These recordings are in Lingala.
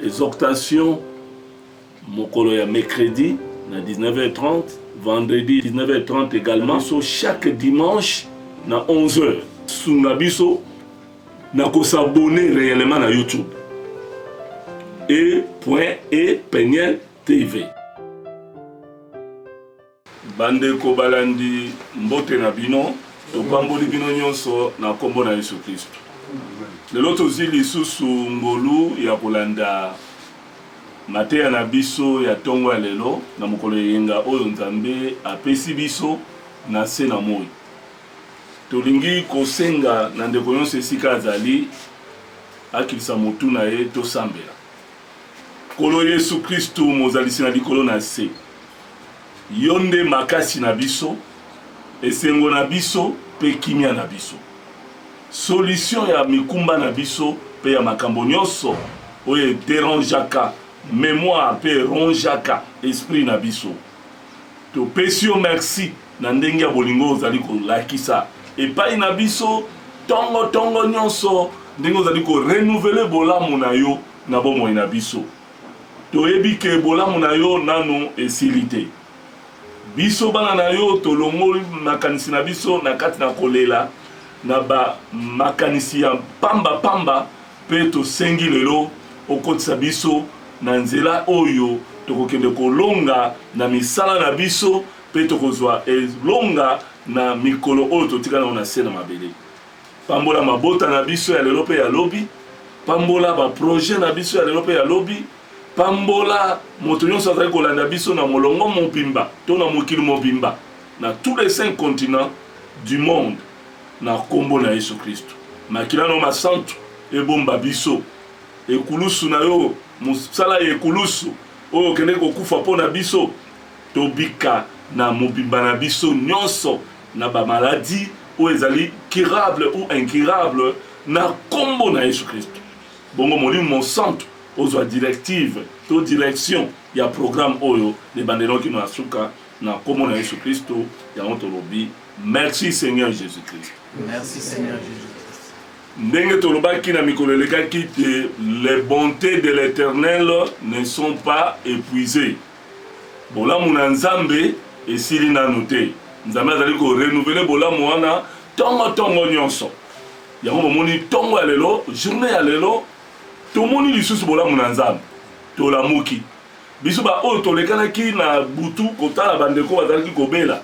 Exhortation mokolo ya mercredi na 19h30, vendredi 19h30 également. So chaque dimanche na 11h. Sunga biso na ko s'abonner réellement na YouTube. E.E Peniel TV. Bandeko balandi, mbote na bino. Topamboli bino nyonso na nkombo na Yesu Klisto. Lelo tozwi lisusu ngolu ya kolanda mateya na biso ya ntongo ya lelo na mokolo ya eyenga oyo Nzambe apesi biso na nse na moi. Tolingi kosenga na ndeko nyonso esika azali akitisa motu na ye tosambela. Nkolo Yesu Kristu, Mozalisi na likolo na nse, Yo nde makasi na biso, esengo na biso mpe kimia na biso, solution ya mikumba na biso mpe ya makambo nionso oyo e derangeaka memoire mpe e rongeaka esprit na biso. Topesi yo mersi na ndenge ya bolingo oyo ozali kolakisa epai na biso ntongo ntongo nyonso, ndenge ozali ko renouveler bolamu na yo na bomoi na biso. Toyebi que bolamu na yo nanu esili te. Biso bana na yo tolongoli makanisi na biso na kati na kolela, na ba makanisi ya pamba pamba, Mpe tosengi lelo okotisa biso na nzela oyo tokokende kolonga na misala na biso mpe tokozwa elonga na mikolo oyo totika nao na se na mabele. Pambola mabota na biso ya lelo mpe ya lobi. Pambola ba projets na biso ya lelo mpe ya lobi. Pambola moto nyonso azali kolanda biso na molongo mobimba to na mokili mobimba, na tous les cinq continents du monde. Na kombo na yesu christu makila nayo masantu ebomba biso ekulusu nayo mosala ya ekulusu oyo okendeki kokufa po na biso tobika na mobimba na biso nionso na ba maladie oyo ezali curable ou incurable na kombo na yesu christu bongo molimo mosantu ozua directive to direction ya programme oyo na ebandeli kino na suka na kombo na yesu christu yango tolobi. Merci Seigneur Jésus-Christ. Merci Seigneur Jésus-Christ. Ndenge tolobaki na mikolo elekaki te les bontés de l'Éternel ne sont pas épuisées. Bolamu na Nzambe esili nanu te. Nzambe azali ko renouveler bolamu wana tongo tongo nyonso. Yango bomoni tongo ya lelo, journée ya lelo tomoni lisusu bolamu na Nzambe. Tolamuki. Biso ba oyo tolekanaki na butu kotala bandeko bazalaki kobela.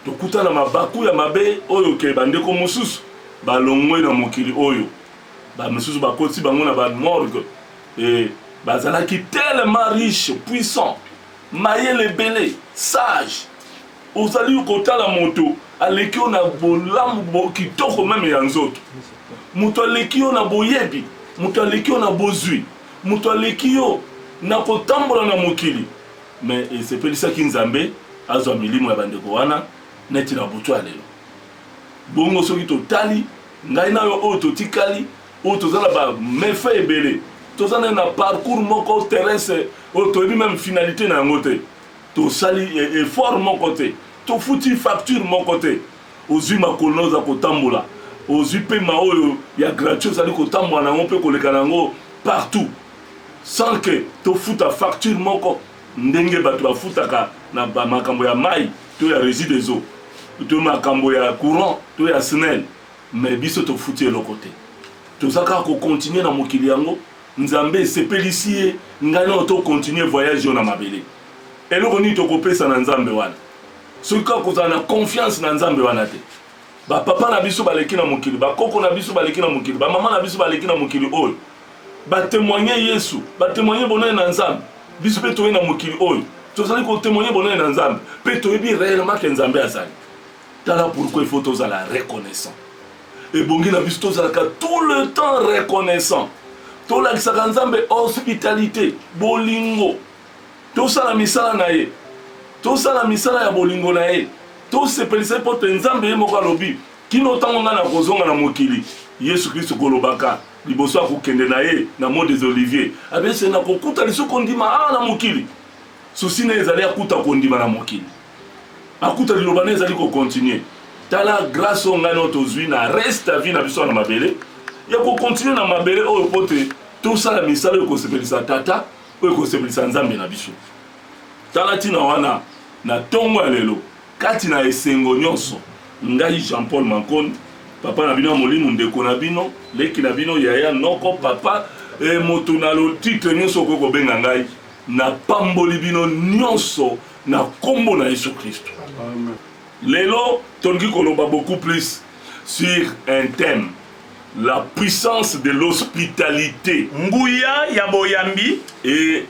Tokuta na mabaku ya mabe oyo ke bandeko mosusu balongwe na mokili oyo, ba misusu bakoti bango na ba morgue et bazalaki tellement riche, puissant, mayele ebele, sage, ozali kotala moto aleki yo na bolamu bo kitoko meme ya nzoto, moto aleki yo na boyebi, moto aleki yo na bozwi, moto aleki yo na kotambola na mokili, Mais esepelisaki Nzambe azwa milimo ya bandeko wana neti na butu ya lelo. Bongo soki totali ngai na yo oyo totikali, oyo toza na ba mefaits ebele, toza nayo na parcours moko terrestre oyo toyebi meme finalite na yango te, tosali effort moko te, tofuti facture moko te, ozwi makolo nayo oza kotambola, ozwi pema oyo ya gratuit ozali kotambola na yango mpe koleka na yango partout, sans que tofuta facture moko ndenge bato bafutaka na makambo ya mai to ya Regie des eaux to makambo ya courant to ya SNEL, mais biso tofuti eloko te. Toza kaka ko continuer na mokili yango Nzambe esepelisi ye ngai nao to continuer voyage oyo na mabele. Eloko nini tokopesa na Nzambe wana soki kaka kozala na confiance na Nzambe wana te? Ba papa na biso baleki na mokili, ba koko na biso baleki na mokili, ba mama na biso baleki na mokili oyo. ba temoigner Yesu, ba temoigner bonene na Nzambe. Biso pe toye na mokili oyo, tozali ko temoigner bonene na Nzambe, pe toyebi reellement que Nzambe azali. Tala pourquoi il faut tozala reconnaissant. Ebongi na biso tozalaka tout le temps reconnaissant. Tolakisaka Nzambe hospitalite, bolingo. Tosala misala na ye. Tosala misala ya bolingo na ye. Tosepelisa ye mpo te Nzambe ye moko alobi kino ntango ngai nakozonga na mokili yesu kristo kolobaka Liboso ya kokende na ye na Mont des Oliviers, abelisi ete, Nakokuta lisusu kondima awa na mokili. Susi na ye ezali akuta kondima na mokili, akuta Liloba na ye ezali ko continuer. Tala grace oyo ngai na yo tozwi na reste ya vie na biso awa na mabele, ya ko continuer na mabele oyo mpo te tosala misala oyo ekosepelisa Tata, oyo ekosepelisa Nzambe na biso. Tala ntina wana na ntongo ya lelo, Kati na esengo nyonso, ngai Jean-Paul Mankoni, papa na bino ya molimo, ndeko na bino, leki na bino, yaya noko, papa, e, moto na lotitre nyonso okoki kobenga ngai, napamboli bino nyonso na nkombo na Yesu Kristo. Lelo tolingi koloba beaucoup plus sur un thème la puissance de l'hospitalité, nguya ya boyambi et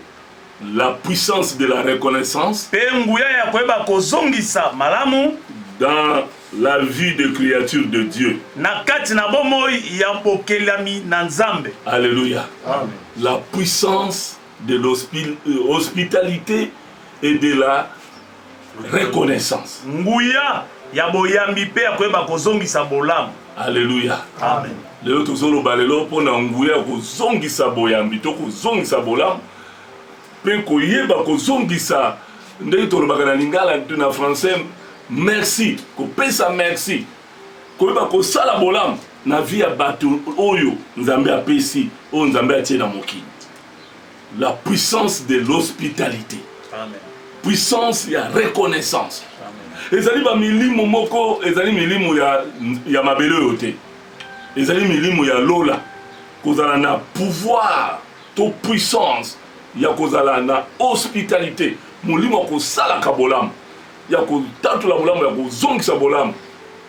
La puissance de la reconnaissance. Mpe nguya ya koyeba kozongisa malamu. Dans la vie de creature de Dieu. Na kati na bomoi ya bokelami na Nzambe. Alléluia. Amen. La puissance de l'hospitalité euh, et de la reconnaissance. Nguya ya boyambi mpe ya koyeba kozongisa bolamu. Alleluia. Amen. Lelo tozoloba lelo mpo na nguya ya kozongisa boyambi to kozongisa bolamu mpe koyeba kozongisa ndenge tolobaka na lingala na français merci kopesa merci koyeba kosala bolamu na vie ya bato oyo nzambe apesi oyo nzambe atie na mokili La puissance de l'hospitalite. Amen. Puissance ya reconnaissance. Amen. Ezali ba milimo moko, ezali milimo ya ya mabele oyo te. Ezali milimo ya lola. Kozala na pouvoir to puissance ya kozala na hospitalite, molimo ya kosalaka bolamu, ya kotatola bolamu, ya kozongisa bolamu,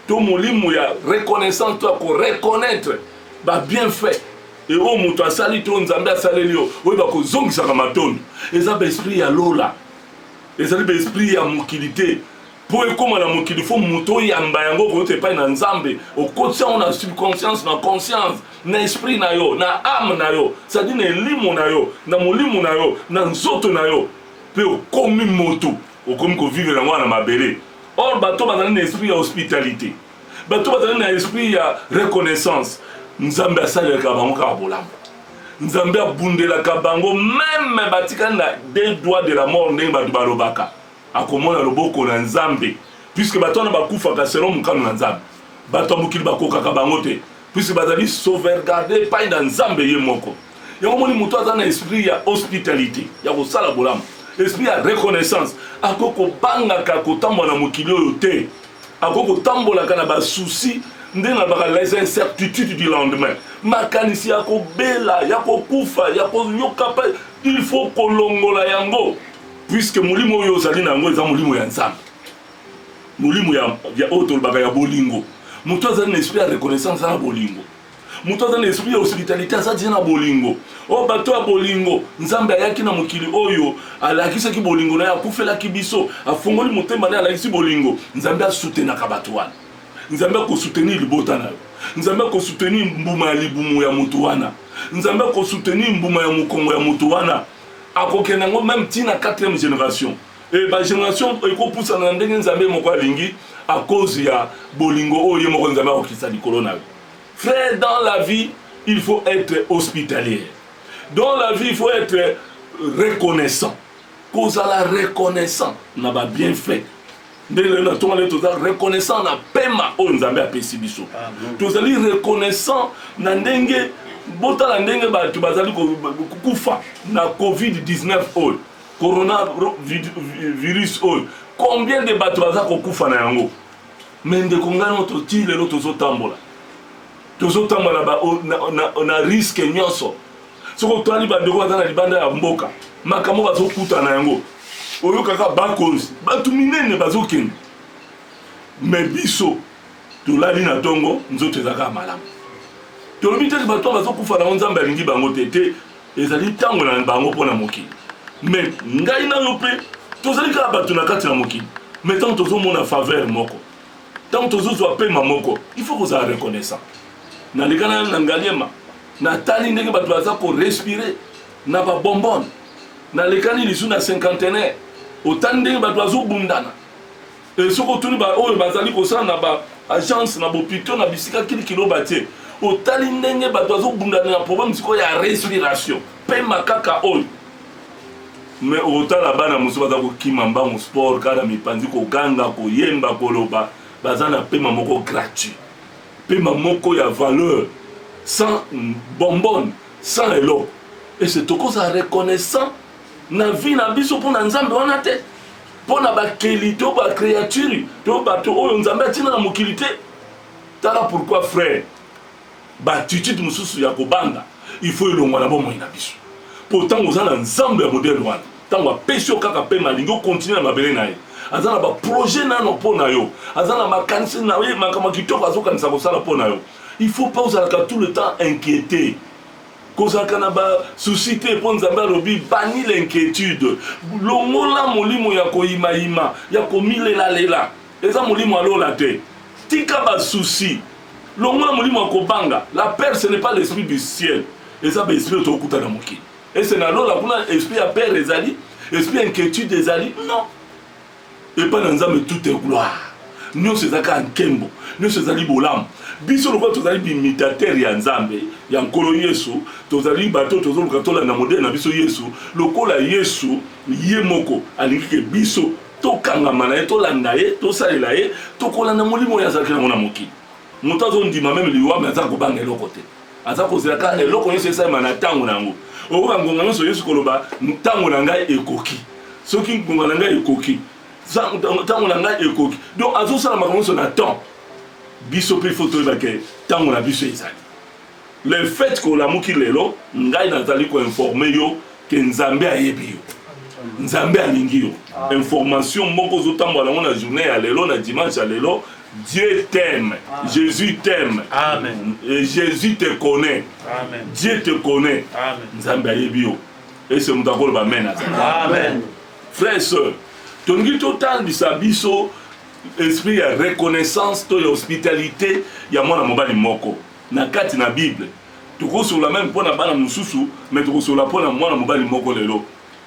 to molimo ya reconnaissance to ya koreconnaitre ba bienfaits e oyo moto asali to nzambe asaleli yo oyo bakozongisaka matondo eza baesprit ya lola ezali baesprit ya mokili te mpo ekóma na mokili fo moto oyamba yango okouta epai na nzambe okotisa yango na subconscience na conscience na esprit na yo na ame na yo sadi na elimo na yo na molimo na yo na nzoto na yo mpe okomi moto okomi kovivre yango wana na mabele or bato bazali na esprit ya hospitalité bato bazali na esprit ya reconnaissance nzambe asalelaka bango kaka bolamu nzambe abundelaka bango meme batikali na de droit de la mort ndenge bato balobaka akomona loboko na nzambe puiske bato wana bakufaka selon mokano na nzambe bato ya mokili bakokaka bango te puisque bazali sauvegarde epai na nzambe ye moko yango omoni moto aza na esprit ya hospitalité ya kosala bolamu esprit ya reconnaissance akoki kobangaka kotambola na mokili oyo te akoki kotambolaka na basusi nde nalobaka les incertitudes du lendemain makanisi ya kobela ya kokufa ya koyoka mpe il faut kolongola yango puisque molimo oyo ozali na yango eza molimo ya nzambe Molimo ya, ya oyo tolobaka ya bolingo. Moto azali na esprit ya reconnaissance na bolingo. Moto azali na esprit ya hospitalite aza deja na bolingo. O oh, bato ya bolingo, Nzambe ayaki na mokili oyo, alakisaki bolingo na ye, akufelaki biso, afongoli motema na ye, alakisi bolingo. Nzambe asutenaka bato wana. Nzambe akosoutenir libota na yo. Nzambe akosoutenir mbuma ya libumu ya moto wana. Nzambe akosoutenir mbuma ya mokongo ya moto wana. Akokende yango meme ntina 4e generation. Et ba generation ekopusana na ndenge nzambe moko alingi à cause ya bolingo oyo ye moko nzambe akokisa likolo na yo frère dans la vie il faut être hospitalier dans la vie il faut être reconnaissant kozala reconnaissant na ba bienfait ndenge lelo na ntongo lelo toza reconnaissant na pema oyo nzambe apesi biso ah, tozali reconnaissant na ndenge botala ndenge bato bazali kufa na covid-19 oyo corona virus oyo combien de bato baza kokufa na yango me ndeko ngai moto ti lelo tozotambola tozotambola na, na, na, na riske nyonso soki otwali bandeko baza na libanda ya mboka makambo bazokuta na yango oyokaka bakonzi bato minene bazokende me biso tolali na ntongo nzoto ezalaka malamu tolobi te bato bazokufa na yango nzambe alingi bango te te Ezali ntango na bango mpo na mokili. Mais ngai na yo mpe tozali kaka bato na kati na mokili. Mais ntango tozomona faveur moko, ntango tozozwa pema moko, il faut kozala reconnaissant. Naleka na na Ngaliema, natali ndenge bato baza korespire na babombone. Nalekani lisu na cinquantenaire, otali ndenge bato bazobundana Et soki otuni ba oyo bazali kosala na ba agence na bopito na bisika kilikilo batie otali ndenge bato bazobundana na problème sikoyo ya respiration pema kaka oyo me okotala bana mosusu baza kokima mbango sport kaka na mipanzi koganga koyemba koloba baza na pema moko gratuit pema moko ya valeur sans bombone sans eloko ese tokozala reconnaissant na vie na biso mpo na nzambe wana te mpo na bakeli to bacreature to bato oyo nzambe atina na mokili te tala pourquoi frère baatitude mosusu ya kobanga il faut elongwa na bomoi na biso mpo ntango oza na nzambe ya modele wana ntango apesi yo kaka mpema alingi okontinue na mabele na ye aza na baprojet nano mpo na yo aza na makanisi na ye makambo kitoko azokanisa kosala mpo na yo il faut mpe ozalaka tout le temps inquiété Kozalaka na ba soucis te mpo Nzambe alobi banni l'inquietude. Longola molimo ya koyima yima, ya komilela lela. Eza molimo ya lola te. Tika ba soucis. Longola molimo ya kobanga. La peur ce n'est pas l'esprit du ciel. Eza ba esprit oyo tokuta na mokili. Est ce na lola kuna esprit ya peur ezali? Esprit ya inquietude ezali? Non. epai na nzambe tout est gloire nyonso eza kaka nkembo nyonso ezali bolamu biso lokola tozali bimitatere ya nzambe ya nkolo yesu tozali bato tozoluka tolanda modele na biso yesu lokola yesu ye moko alingi ke biso tokangama na ye tolanda ye tosalela ye tokolanda molimo oyo azalaki nango na mokili moto azondima meme liwa me aza kobanga eloko te aza kozela kaka eloko nyonso esalema na ntango na yango okoka ngonga nyonso yesu koloba ntango na ngai ekoki soki ngonga na ngai ekoki ntango na ngai ekoki donc azosala makambo nyonso na temps biso mpe fo toyeba ke ntango na biso ezali le fait ke olamuki lelo ngai nazali koinforme yo ke nzambe ayebi yo nzambe alingi yo information moko ozotambola yango na journée ya lelo na dimanche ya lelo Dieu t'aime, Jesus t'aime, Amen. Et Jesus te connaît, Amen. Dieu te connaît, Amen. Nzambe ayebi yo. Ese moto akoloba amen azala. Amen. Frère sœur, tolingi totangisa biso esprit ya reconnaissance to ya hospitalité ya mwana mobali moko na kati na Bible. Tokosola meme mpo na bana mosusu, mais tokosola mpo na mwana mobali moko lelo.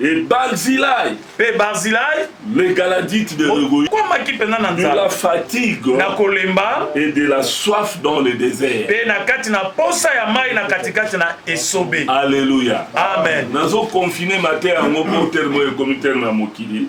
Et Barzillai. Pe Barzillai. Le Galadite de Regoï. Okomaki mpenza na nzala. De la fatigue. Na kolemba. Et de la soif dans le désert. Pe na kati na posa ya mai na katikati na esobe. Alléluia. Amen. Nazo confiner matin yango mpo terme oyo ekomi terme ya mokili.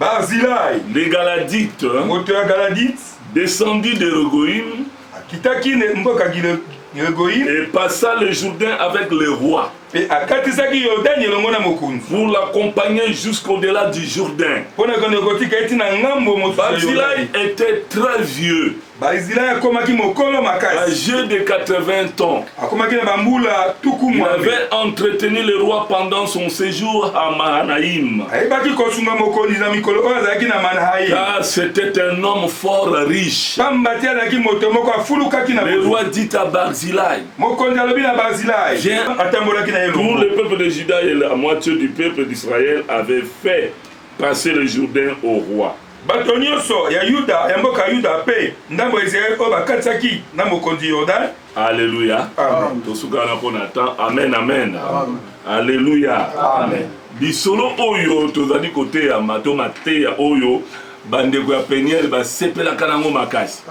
Barzilai, le Galadite, moto ya Galadite, descendit de Regoïm, akitaki ne mboka Gile- Gilegoyim, et passa le Jourdain avec le roi mpe akatisaki Yordani elongo na mokonzi pour l'accompagner jusqu'au-delà du Jourdain. mpo na kende kotika ye ntina ngambo mosusu ya Barzilai Yordani. était très vieux. Baizilai akomaki mokolo makasi. Age de 80 ans. Akomaki na bambula tuku Il avait entretenu le roi pendant son séjour à Mahanaïm. Ayebaki kosunga mokonzi na mikolo oyo azalaki na Mahanaïm. Car c'était un homme fort riche. Pamba te azalaki moto moko afulukaki na Le roi dit à Barzilai. Mokonzi alobi na Barzilai. Viens. Atambolaki na ye. Tout le peuple de Juda et la moitié du peuple d'Israël avait fait Passer le Jourdain au roi. Bato nyonso ya Yuda, ya mboka Yuda, mpe ndambo ya Israel oyo bakatisaki na mokonzi Yordane. Alleluia. Amen. Tosukana mpo na temps. Amen, amen. Amen. Alleluia. Amen. Lisolo oyo tozali koteyama to mateya oyo bandeko ya peniele basepelaka nango makasi.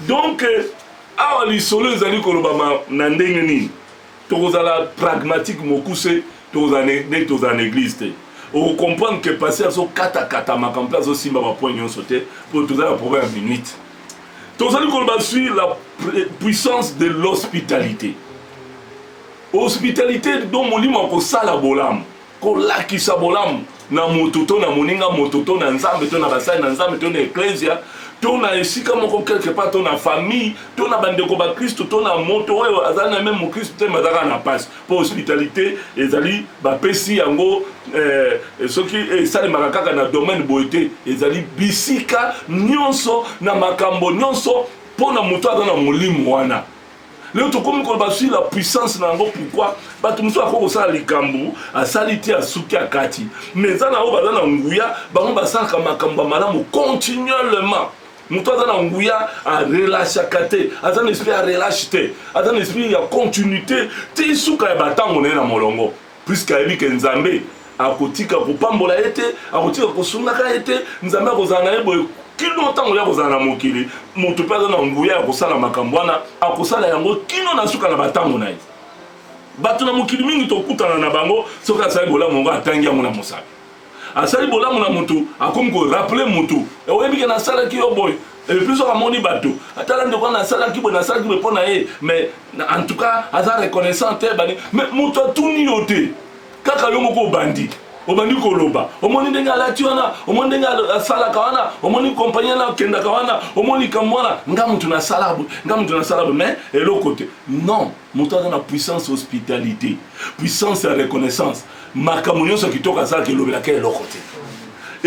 Donc awa lisolo ezali kolobama na ndenge nini? tokozala pragmatique mokuse tokozala neti tozala na eglise te okocomprendre ke pasi azokatakatamaka mpe azosimba bapoint nyonso te mpo toza na problème ya minute tozali koloba sur la puissance de l'hospitalité hospitalité do molimo ya kosala bolamu kolakisa bolamu na moto to na moninga moto to na nzambe to na basali na nzambe to na eklezia to na esika moko quelque part to na famille to na bandeko bakristo to na moto oyo azali na meme mokristo te mazalaka na mpasi mpo hospitalité ezali bapesi yango eh, soki esalemaka kaka na domaine boye te ezali bisika nyonso na makambo nyonso mpo na moto aza na molimo wana leo tokomi koloba sur la puissance na yango pourkui bato mosusu akoki kosala likambo asali te asuki akati mais eza na oyo baza na nguya bango basalaka makambo ya malamu continuellement moto aza na nguya arelashaka te aza na esprit ya relache te aza na esprit ya continuité ti suka ya batango na ye na molongo puisque ayebi ke nzambe akotika kopambola ye te akotika kosungaka ye te nzambe akozala na ye boye kino ntango ya kozala na mokili moto mpe aza na nguya ya kosala makambo wana akosala yango kino na suka na bantango na ye bato na mokili mingi tokutana na bango soki asali bolamu yango atangi yango na mosapi asali bolamu na mutu akomi ko rappeler mutu oyebi ke nasalaki yo boye et puis soki amoni bato atala ndeko wana asalaki boye nasalaki boye mpo na ye mais en tout cas aza reconnaissant te bani mais moto atuni yo te kaka yo moko obandi obandi koloba omoni ndenge alati wana omoni ndenge asalaka wana omoni kompani wana akendaka wana omoni likambo wana nga moto nasala boye nga moto nasala boye mais eloko te non Moto aza na puissance hospitalite, puissance ya reconnaissance, makambo nyonso kitoko asalaka elobelaka eloko te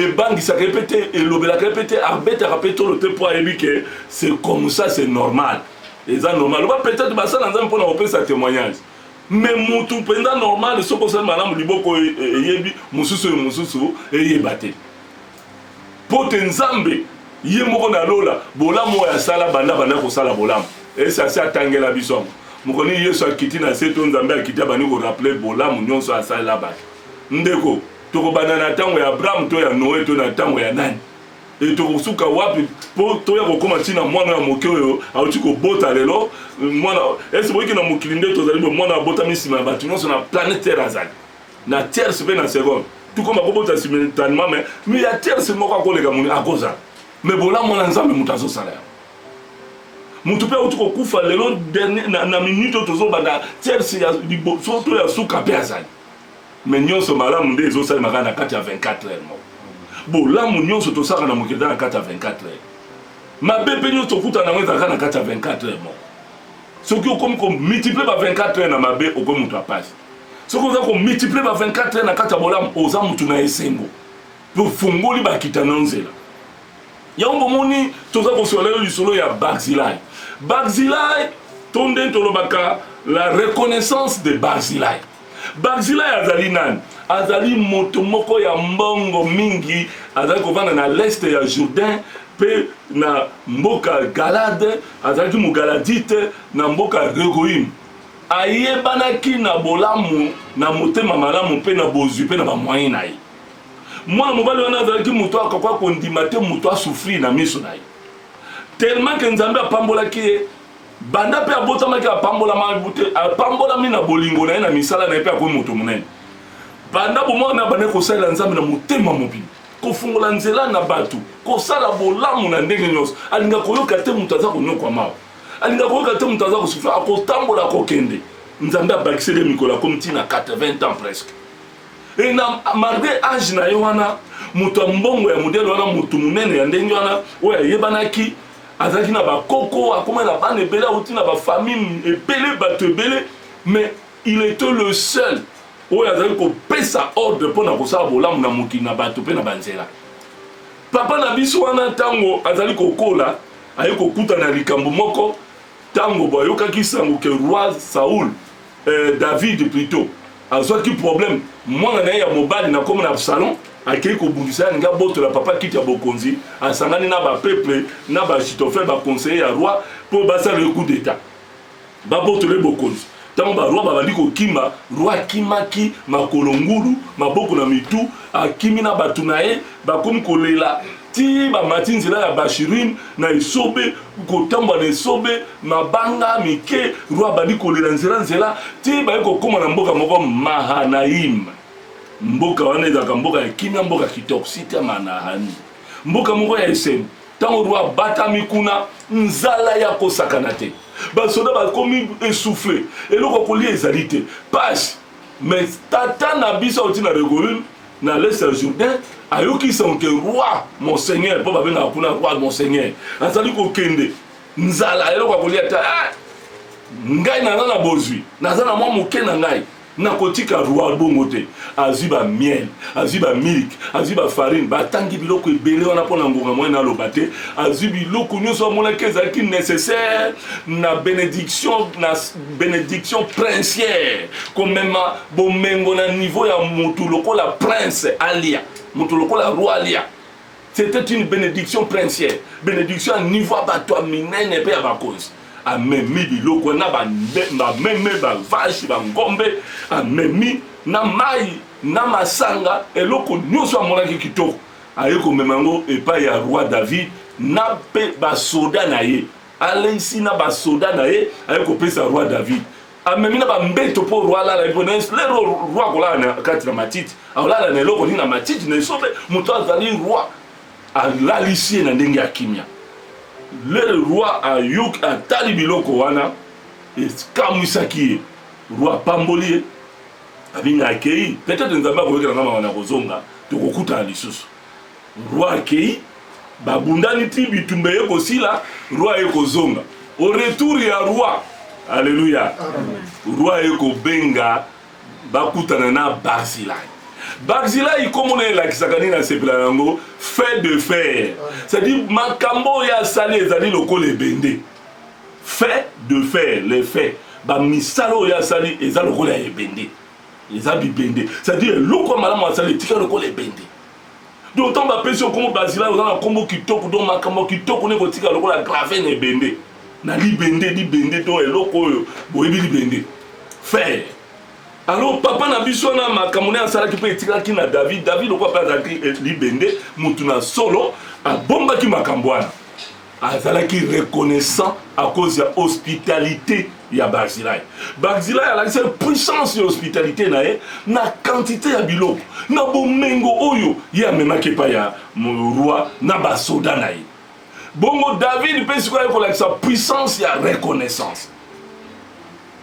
ebangisaka ye mpe te elobelaka ye mpe te abetaka mpe tolo te mpo ayebi ke c'est comme ça c'est normal eza normal oba peut-être basala nzambe mpo na kopesa témoignage me mutu mpenza normal soki osali malamu liboko e, e, eyebi mosusu oyo mosusu eyeba te Mpo te Nzambe Ye moko na lola, bolamu oyo asala banda abanda kosala bolamu, esi asi atangela biso yango. Mokolo nini Yesu akiti na se to Nzambe akiti abandi ko rappeler bolamu nyonso asalela bato. Ndeko, tokobanda na ntango ya Abraham to ya Noe to na ntango ya nani? E, tokosuka wapi mpo toya kokoma ntina mwana ya moke oyo auti kobota lelo mwana esi boyiki na mokili nde tozali bo mwana abotami nsima ya bato nyonso na planete Terre azali na tierce pe na seconde tukoma kobota simultanement mais mais ya tierce moko akoleka moni akozala mais bolamu na nzambe moto azosala yango moto mpe auti kokufa lelo dernier na, na minute oyo tozobanda tierce ya liboso to ya suka mpe azali me nyonso malamu nde ezosalemaka na kati ya 24 heure moko bolamu nyonso tosaka na mokili na kati ya 24 heure mabe mpe nyonso tokutana yango ezalaka na kati ya 24 heure moko soki okomi komultiplie ba 24 heure na mabe okomi moto ya pasi soki oza komultiplie ba 24 heures na kati ya bolamu oza motu na esengo mpe ofungoli bakita na nzela yango bomoni toza kosola lelo lisolo ya barzilai barzilai to nde tolobaka la reconnaissance de barzilai barzilai azali nani azali moto moko ya mbongo mingi azali kovanda na leste ya jourdain mpe na mboka galade azalaki mogaladite na mboka regoime Ayebanaki na bolamu, na motema malamu mpe na bozwi mpe na ba moyens na ye. Mwana mobali wana azalaki moto oyo akoka kondima te moto a souffrir na miso na ye. Tellement que Nzambe apambolaki ye, banda mpe abotamaki apambolama, apambolami na bolingo na ye na misala na ye mpe akomi moto monene. Banda bomwana abandaki kosalela Nzambe na motema mobimba kofungola nzela na bato, kosala bolamu na ndenge nyonso, alinga koyoka te moto aza konyokwama. alinga koyoka te moto aza kosufle akotambola kokende nzambe abakiseli ye mikolo akomi ntina 80 ans presque e na malgre age na ye wana moto ya mbongo ya modele wana moto monene ya ndenge wana oyo ayebanaki azalaki na bakoko akoma na bana ebele auti na bafamille ebele bato ebele mais il était le seul oyo azali kopesa ordre mpo na kosala bolamu na mokili na bato mpe na banzela papa na biso wana ntango azali kokola Aye kokutana na likambo moko ntango bayokaki nsango ke roi Saul, eh, David plutot, azwaki problème. Mwana na ye ya mobali na nkombo na Absalom akei kobundisa ye, alingi abotola papa kiti ya bokonzi, asangani na ba peuple na ba Achitophel ba conseiller ya roi mpo basala ye coup d'etat. Babotole bokonzi. Ntango barwa babandi kokima, rwa akimaki makolo ngulu, maboko na mitu, akimi na bato na ye, bakomi kolela ti bamati nzela ya Bashirim na esobe, kotambwa na esobe, mabanga mike, rwa abandi kolela nzela nzela, ti baye kokoma na mboka moko Mahanaim. Mboka wana ezalaka mboka ya kimia, mboka kitoko, site ya Manahani, mboka moko ya esengo. ntango roi abatami kuna nzala ya kosakana te basoda bakomi essouffle eloko ya kolia ezali te pasi mais tata na biso auti na regoune na leste ya jourdain ayoki sanke roi monseigneur mpo babengaka kuna roi monseigneur azali kokende nzala eloko ya kolia te eh, ngai naza na bozwi naza na mwa moke na ngai Nakotika roi bongo te. Azui ba miel, azui ba milk, azui ba farine, ba tangi biloko ebele wana pona ngonga moyen na loba te. Azui biloko nioso amonaki ezalaki necessaire na benediction na benediction princière. Komema bomengo na niveau ya mutu lokola prince alia, mutu lokola roi alia. C'etait une benediction princière, benediction ya niveau ya bato ya minene mpe ya bakonzi. Amemi biloko na bameme, bavashi, bangombe, amemi na mai na masanga, eloko nyonso amonaki kitoko, aye komema yango epai ya roi David na mpe basoda na ye. Aleisi na basoda na ye, aye kopesa roi David. amemi na bambeto mpo roi alala ye mpo na yesu lero roi akolala na kati na matiti akolala na eloko nini na matiti na esobe moto azali roi alalisi ye na ndenge ya kimia lere roi ayoki atali biloko wana ekamwisaki ye roi apamboli ye abinga akei peut-être nzambe akoyokela nga mawa na kozonga tokokutana lisusu roi akei babundani ti bitumba eye kosila roi aye kozonga au retour ya roi alleluya roi aye kobenga bakutana na barzilai barzilai nkombo na elakisaka nini asepela na yango fait de fer c'est-à-dire makambo oyo asali ezali lokola ebende fait de fer le fait bamisala oyo asali eza lokola ebende eza bibende c'est-à-dire eloko ya malamu asali etika lokola ebende donc ntango bapesi yo nkombo bazila oza na nkombo kitoko donc makambo kitoko nde kotika lokola grave na ebende na libende libende to eloko oyo boyebi libende fere alors papa na biso wana makambo nde asalaki mpe etikaki na david david lokola mpe azalaki eh, libende motu na solo abombaki makambo wana azalaki reconnaissant à cause ya hospitalité ya barzilai barzilai alakisaki puissance ya hospitalité na ye na quantité ya biloko na bomengo oyo ye amemaki epai ya roi na basoda na ye bongo david mpe sikoyo aye kolakisa puissance ya reconnaissance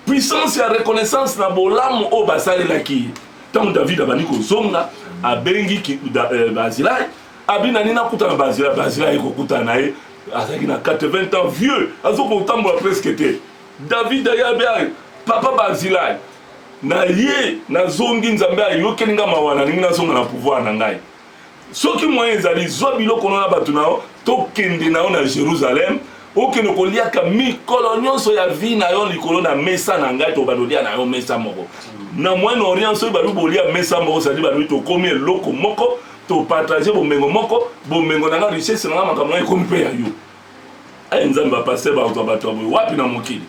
puissance ya reconnaissance na bolamu oyo basalelaki ye ntango david abandi kozonga abengi eh, barzilai abi na nini akutana bazila bazila aye kokutana na ye azalaki na 80 ans vieux azokotambola presque te david ayabi aye papa bazilai na ye nazongi nzambe ayokeli nga mawa nalingi nazonga na pouvoir na ngai soki moyen ezali zwa biloko no na bato na yo tokende na yo na jérusalem okende koliaka mikolo nyonso ya vi na yo likolo na mesa na ngai tobanda olia na yo mesa moko na moyen orient soki balobi bolia mesa moko sadi balobi tokomi eloko moko to partage bomengo moko bomengo na nga richesse na nga makambo na ekomi mpe ya yo aye eh, nzambe bapaster bakozwa bato ya boye wapi na mokili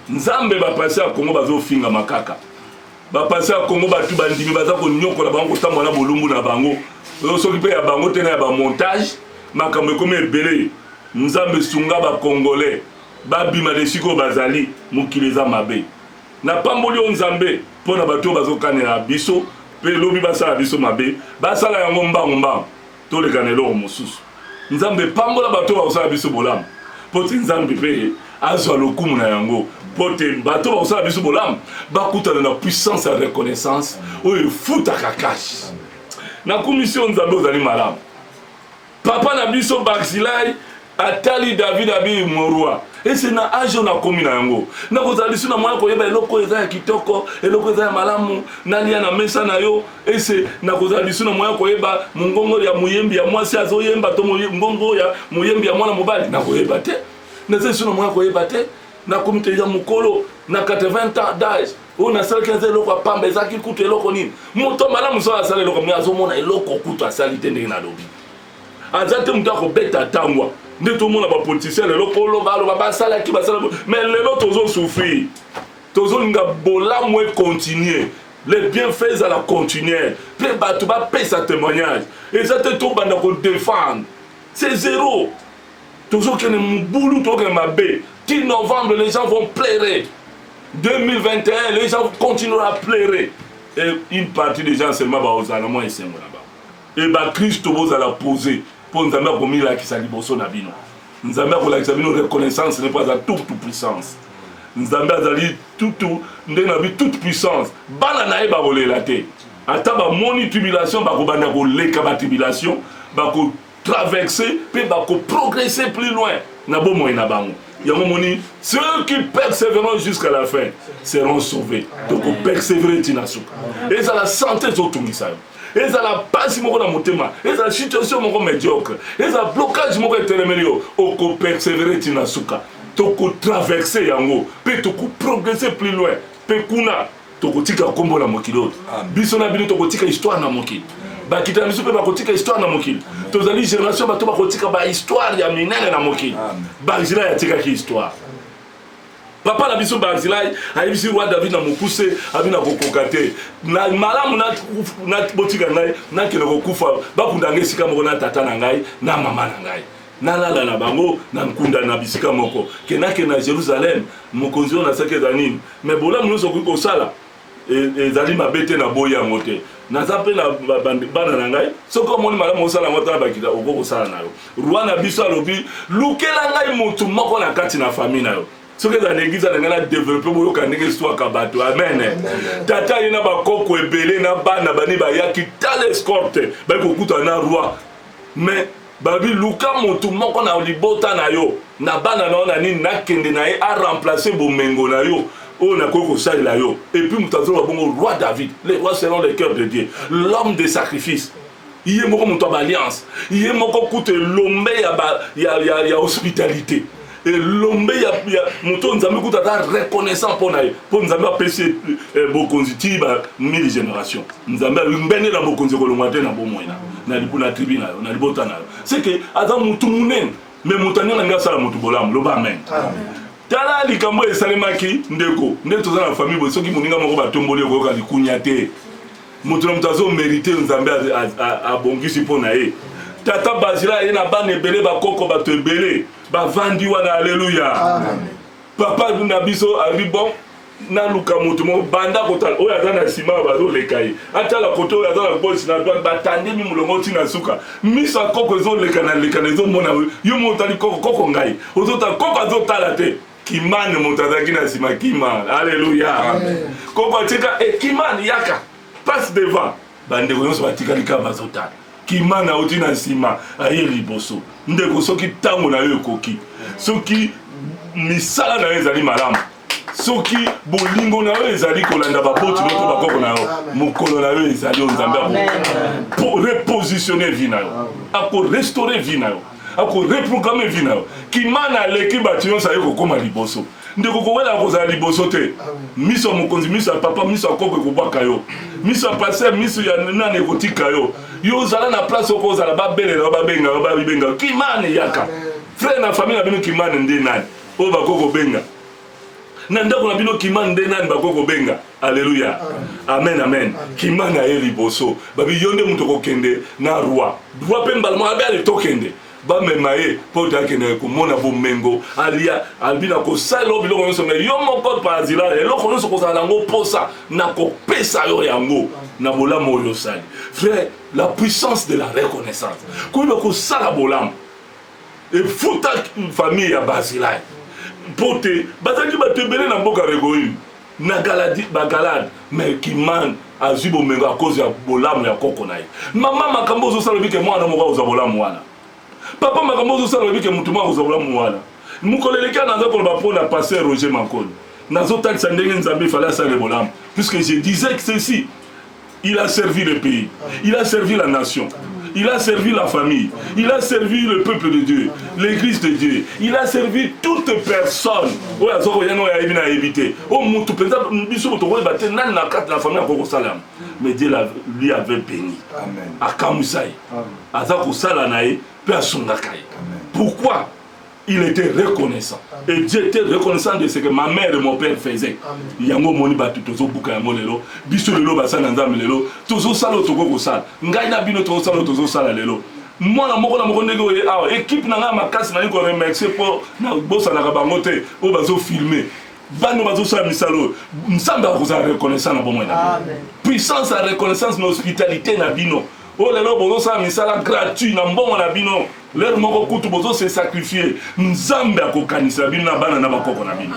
nzambe bapaster ya kongo bazofingama kaka bapaster ya kongo bato bandimi baza konyokola bango kotambola na bolumbu na bango oyo soki mpe ya bango te na ya bamontage makambo ekomi ebele nzambe sunga bakongole babima na esika oyo bazali mokili eza mabe Napamboli yo Nzambe mpo na bato oyo bazokanela biso mpe lobi basala biso mabe, basala yango mbangu mbangu toleka na eloko mosusu. Nzambe pambola bato oyo bakosala biso bolamu mpo te Nzambe mpe azwa lokumu na yango mpo te bato oyo bakosala biso bolamu bakutana na puissance ya reconnaissance oyo efutaka kashi. Nakumisi yo Nzambe, ozali malamu. Papa na biso Barzilai atali David abi morwa ese na age oyo nakomi na yango nakozala lisu na mwana koyeba eloko eza ya kitoko eloko eza ya malamu nalia na mesa na yo ese nakozala lisu na mwana koyeba mongongo ya moyembi ya mwasi azoyemba to mongongo ya moyembi ya mwana mobali nakoyeba te naza lisu na mwana koyeba te nakomi te ya mokolo na 80 ans d'age oyo nasalaki aza eloko ya pamba ezalaki kutu eloko nini moto malamu so asala eloko me azomona eloko kutu asali te ndenge nalobi aza te moto akobeta ntangwa nde tomona bapolitisien lelo koloba aloba basalaki basala me lelo tozosouffrir tozolinga bolamu econtinue le bienfait ezala continuer mpe bato bapesa témoignage eza te tobanda kodefendre c'est zero Tozo kende mubulu tozo kende mabe ti novembre les gens vont pleurer 2021 les gens continuer à pleurer et une partie des gens seulement bakozala na mwa esengo na bango et bakristo bozala pose mpo nzambe akomilakisa liboso na bino nzambe akolakisa bino reconnaissance ne mpo aza toute puissance nzambe azali tutu ndenge na bi toute puissance bana na ye bakolela te ata bamoni tribulation bakobanda koleka batribulation bako traverse mpe bakoprogresse plus loin na bomoi na bango yango omoni ceux qui persevereront jusqu'à la fin seront sauvés tokopersevere ntina suka ezala sante ezotungisa yo ezala mpasi moko na motema ezala situation moko mediocre ezala blocage moko etelemeli yo okopersevere ntina suka tokotraverse yango mpe tokoprogresse plus loin mpe kuna tokotika nkombo na mokili oyo biso na bino tokotika histoire na mokili bakita na biso mpe bakotika histoire na mokili tozali génération bato bakotika bahistoire ya minene na mokili barzilai atikaki histoire papa na biso barzilai ayebisi roi david na mokuse abi na kokoka te na malamu botika ngai nakende kokufa bakunda ngai esika moko na tata na ngai na mama na ngai nalala na bango na nkunda na bisika moko ke nake na jerusalem mokonzi oyo nasaki eza nini me bolamu nyonso okoki kosala e, ezali mabe te naboyi yango te naza mpe na bana na ngai soki omoni malamu osala yango tala bakita okoki kosala na yo roi na biso alobi lukela ngai motu moko na kati na famille na yo soki eza na eglize na ngai na develope boyoka ndenge eswaka bato amen tata ye na bakoko ebele na bana bani bayaki tala escorte bayi kokutana na roi mais Balobi luka mutu moko na libota na yo, na bana na yo na nini, nakende na ye a remplacer bomengo na yo oyo nakoki kosalela yo. Et puis mutu azoloba bongo roi David, le roi selon le cœur de Dieu, l'homme de sacrifice, ye moko mutu ya ba alliances, ye moko kutu elombe ya ba ya ya ya hospitalite. elombe ya, ya moto nzambe kutu aza reconnaissant mpo na ye mpo nzambe apesi ye eh, bokonzi ti ba 1000 génération nzambe alingbende na bokonzi ekolongwa te na bomoi na na tribi na yo na libota na yo seke aza motu monene me moto aninga ndenge asala motu bolamu loba amen, amen. tala likambo oyo esalemaki ndeko nde toza na famille boye soki moninga moko batomboli okoyoka likunya te moto na moto azomerite nzambe abongisi mpo na ye tata bazila ye na bana ebele bakoko bato ebele bavandi wana aleluya papa na biso alobi bon naluka moto moko banda kotala oyo aza na nsima oyo bazoleka ye atala kote oyo aza na gauche na droite batandemi molongo ti na suka miso ya koko ezolekana lekana ezomona yo moko otali koko koko ngai ozotala koko azotala te kimane moto azalaki na nsima kimane aleluya koko atika e eh, kimane yaka passe devant bandeko nyonso batikali kaka bazotala kimana auti na nsima aye liboso ndeko soki ntango na yo ekoki soki misala na yo ezali malamu soki bolingo na yo ezali kolanda baboti no to bakoko na yo mokolo na yo ezali oyo nzambe akorepositionne vi na yo akorestore vi na yo akoreprograme vi na yo kimana aleki bato nyonso aye kokóma liboso ndeko kowelaka kozala liboso te miso ya mokonzi miso ya papa miso ya koko ekobwaka yo miso ya paster miso ya nani ekotika yo yo ozala na place oko ozala babelela yo babenga yo babibenga yo kimane yaka frere na famille na bino kimane nde nani oyo bakoki kobenga na ndako na bino kimane nde nani bakoki kobenga aleluya amen amen kimane aye liboso babi yo nde moto okokende na roi roi mpe mbala moko abe ale tokende bamema ye mpo te akende komona bomengo alia albi na kosala yo biloko nyonso mai yo moko parazila eloko nyonso kozala yango mposa na kopesa yo yango na bolamu oyo osali frère la puissance de la reconnaissance koyeba kosala bolamu efuta famille ya basilai mpo te bazalaki bato ebele na mboka regoyime na galadi bagalade mais kiman azwi bomengo a cause ya bolamu ya koko na ye mama makambo ozosala oyebi ke mwana moko akozwa bolamu wana papa makambo ozosala oyebi ke motu moko akozwa bolamu wana mokolo eleki ana aza koloba mpo na pasteur roger mankoni nazotalisa ndenge nzambe ifale asale bolamu puisque je disais ceci Il a servi le pays. Il a servi la nation. Il a servi la famille. Il a servi le peuple de Dieu, l'église de Dieu. Il a servi toute personne. Oyo azoko yana oyo ayebi na yebi te. O mutu penza biso moto ko bate nan na kat na famille ko salam. Mais Dieu la, lui avait béni. Amen. Akamusai. Aza ko sala na ye pe asungaka ye. Pourquoi? il était reconnaissant et dieu était reconnaissant de ce que ma mère et mon père faisait yango omoni bato tozobuka yango lelo biso lelo basali na nzambe lelo tozosala oyo tokoki kosala ngai na bino tozosala oyo tozosala lelo mwana moko na moko ndenge oye awa ekipe na ngai ya makasi nalingi koremercie mpo nabosanaka bango te oyo bazofilme bano bazosala misala oyo nzambe akozala reconnaissant na bomoi na bino puissance ya reconnaissance na hospitalité na bino oyo lelo bozosala misala gratuit na mbongo na bino L'heure moko kutu bozo se sacrifier, Nzambe akokanisa bino na bana na bakoko na bino.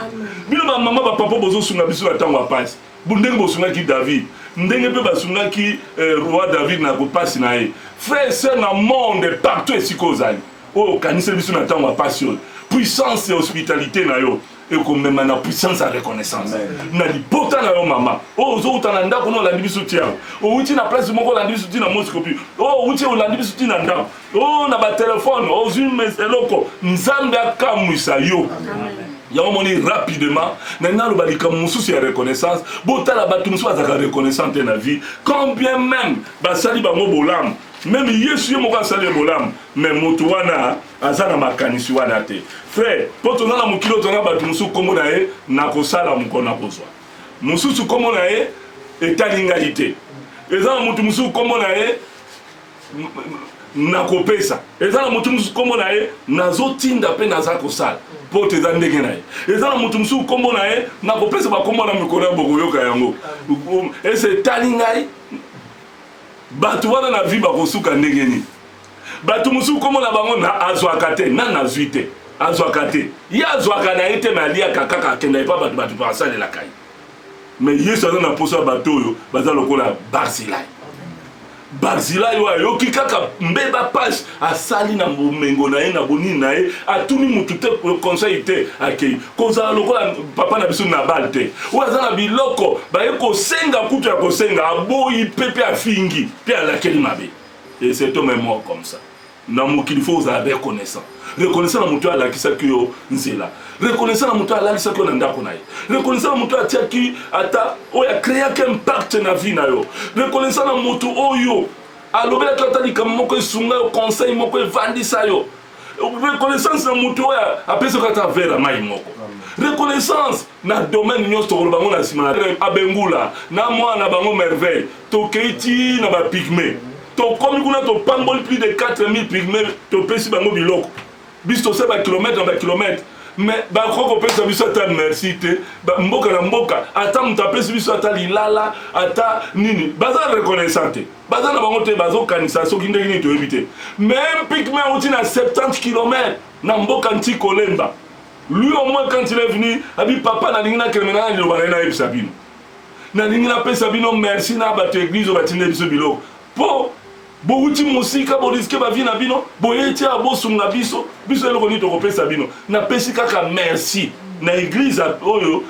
Bino ba mama ba papa bozo sunga biso na tango ya pasi. Ndenge bosungaki David, ndenge pe basungaki eh, roi David na kopasi na ye. Frère sœur na monde partout esika ozali, oyo okanisa biso na tango ya pasi oyo. Puissance ya hospitalite na yo ekomema na puissance ya reconnaissance na libota na yo mama oyo oh, ozowuta na ndako na olandi biso tiago owuti na place moko olandi biso ti na moscopi oyo oh, owuti olandi biso ti na ndako oyo oh, na batelefone ozwi eloko nzambe akamwisa yo Amen. yango moni rapidement na naloba likambo mosusu ya reconnaissance botala bato mosusu bazalaka reconnaissant te na vie quand bien même basali bango bolamu meme yesu ye moko asali ye bolamu mais moto wana aza na makanisi wana te frère mpo toza na mokili oyo toza na bato mosusu nkombo na ye nakosala mokolo nakozwa mosusu nkombo na ye etali ngai te eza na motu mosusu nkombo na ye nakopesa eza na motu mosusu nkombo na ye nazotinda mpe naza kosala mpo te eza ndenge na ye eza na motu mosusu nkombo na ye nakopesa bakombo na mikolo ya bokoyoka yango ese etali ngai bato wana na vi bakosuka ndenge nini bato mosusu nkombo na bango na azwaka te na nazwi te azwaka te ye azwaka na ye te me aliaka kaka akenda epa bato bato basalelaka ye me yesu aza na mposa ya bato oyo baza lokola barzilai barzilai oyo ayoki kaka mbeba page asali na bomengo na ye na bonini na ye atuni motu te conseil te akei kozala lokola papa na biso nabal te oyo aza na biloko baye kosenga kutu ya kosenga aboyi mpe mpe afingi mpe alakeli mabe Et c'est homme est mort comme ça. na mokili fo ozala reconnaissant reconnaissant na moto oyo alakisaki yo nzela reconnaissant na moto oyo alalisaki yo na ndako na ye reconnaissant na moto oyo atiaki ata oyo akreaki impact na vie na yo reconnaissant na moto oyo alobelaki ata likambo moko esunga yo conseil moko evandisa yo reconnaissance na moto oyo apesaka ata vere ya mai moko reconnaissance na domaine nyonso tokoloba bango na nsima abengula na mwana na bango merveille tokei ti na bapigme tokomi kuna topamboli plus de 4000 pigme topesi bango biloko biso tose bakilomètre na bakilomètre me bakoki kopesa biso ata merci te mboka na mboka ata moto apesi biso ata lilala ata nini baza reconnaissant te baza na bango te bazokanisa soki ndenge nini toyebi te meme pikme auti na 70 km na mboka nti kolemba lui au moins quand il est venu abi papa nalingi nakeleme na liloba na ye nayebisa bino nalingi napesa bino merci na bato eglize oyo batinde biso biloko mpo bowuti mosika boriske bavi na bino boyei tia bosunga biso biso eloko nini tokopesa bino napesi kaka merci na eglize oyo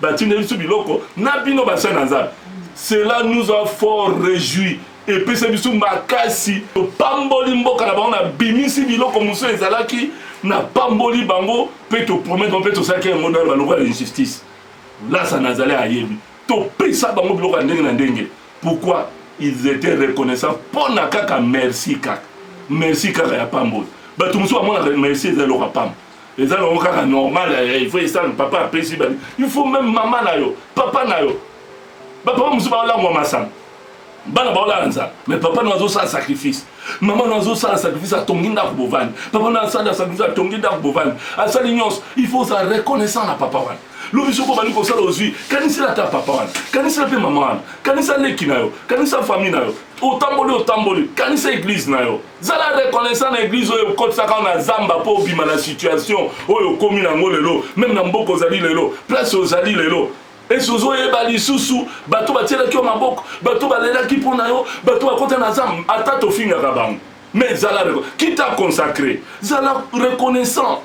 batinde biso biloko na bino basali na nzambe Cela nous a fort rejouis epesa biso makasi topamboli mboka na bango na bimisi biloko mosusu ezalaki na pamboli bango mpe topromettre mpe tosalaki yango na baloko ya injustice lasa nazali ayebi topesa bango biloko ya ndenge na ndenge pourquoi ils étaient reconnaissants mpo na kaka merci kaka merci kaka ya pamboli bato mosusu bamonaka merci eza eloko ya pamba eza nango kaka normal eh, il faut esala papa apesi bani il faut même mama na yo papa na yo bapapa mosusu baolangwa masanga bana baolala nzala mais papa na azosala sacrifice mama na azosala sacrifice atongi ndako bovandi papa na asala sacrifice atongi ndako bovandi asali nyonso il faut ozala reconnaissant na papa wana lobi soki obandi kosala ozwi kanisela ata papa wana kanisela mpe mama wana kanisa leki na yo kanisa famille na yo otamboli otamboli kanisa eglize na yo zala reconnaissant na eglise oyo ekotisaka na zamba mpo obima na situation oyo okomi nango lelo meme na mboka ozali lelo place ozali lelo esi ozoyeba lisusu bato batielaki yo maboko bato balelaki mpo na yo bato bakota na zamba ata tofingaka bango mais zala kita consacré zala reconnaissant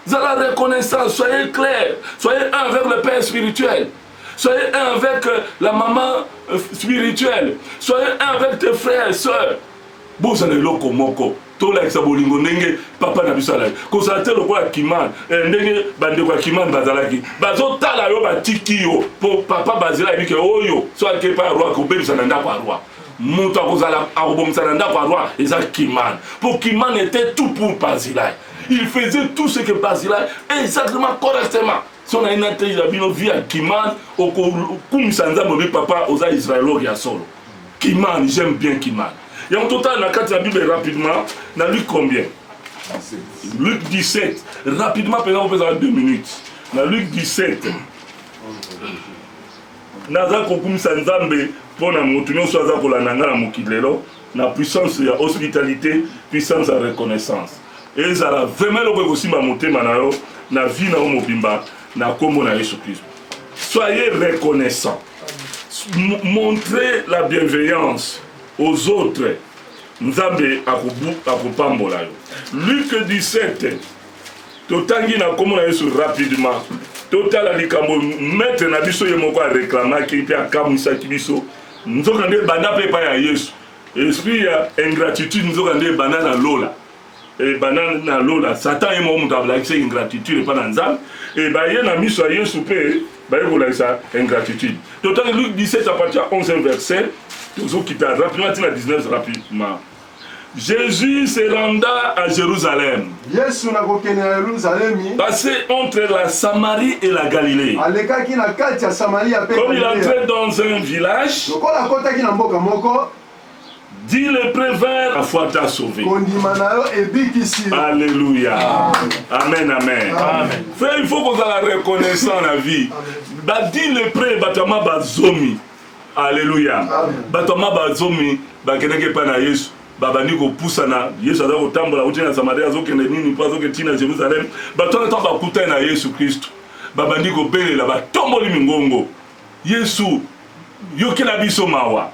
zala reconnaissant soyez clair soyez un avec le père spirituel soyez un avec euh, la maman euh, spirituelle soyez un avec tes frères et sœurs bozala eloko moko tolakisa bolingo ndenge papa na biso alaki kozala te lokola kimane eh, ndenge bandeko ya kimane bazalaki bazotala yo batiki yo mpo papa bazela ayebi ke oyo so ake epai ya roi akobebisa na ndako ya roi moto akozala akobomisa na ndako ya roi eza kimane mpo kimane était tout pour bazilai il faisait tout ce que bazilai exactement correctement so na ye nateyela bino vi ya kimane okokumisa nzambe obi papa oza israelor ya solo Kimani, j'aime bien Kimani. Yango totala na kati ya Bible rapidement na Luc combien? Luc 17. Rapidement pena kopesa 2 minutes. Na Luc 17. Naza kokumisa Nzambe mpo na moto nyonso aza kolanda ngai na mokili lelo na puissance ya hospitalité, puissance ya reconnaissance. Ezala vraiment eloko ekosimba motema na yo na vie na yo mobimba na nkombo na Yesu Kristo. Soyez reconnaissant. Montrez la bienveillance aux autres. Nzambe akopambola yo. Luc 17 totangi na nkombo na yesu rapidement totala likambo maître na biso ye moko areklamaki mpe akamwisaki biso nzoka nde ebanda mpe epai ya yesu esprit ya ingratitude nzoka nde ebanda na lola e bana na lola satan ye moko moto akolakisa ingratitude epai na nzambe e baye na miso ya yesu mpe baye kolakisa ingratitude totali luke 17 apartir 11 verset tozokita rapidement ntina 19 rapidement Jésus se renda à Jérusalem. Yesu na kokende na Yerusalemi. Passé entre la Samarie et la Galilée. Alekaki na kati ya Samaria pe Comme il entrait dans un village. Lokola akotaki na mboka moko. Dis le prévert, la foi t'a sauvé. Alléluia. Amen, amen. amen. Frère, il faut qu'on soit reconnaissant la vie. Bah, dis le pré, batama bazomi. Alléluia. Batama bazomi, bakeneke pa na Yesu. babandi kopusana yesu aza kotambola auti na samaria azokende nini mpo azokende ntina jérusalem bato wana ntango bakutani na yesu kristu babandi kobelela batomboli mingongo yesu yokela biso mawa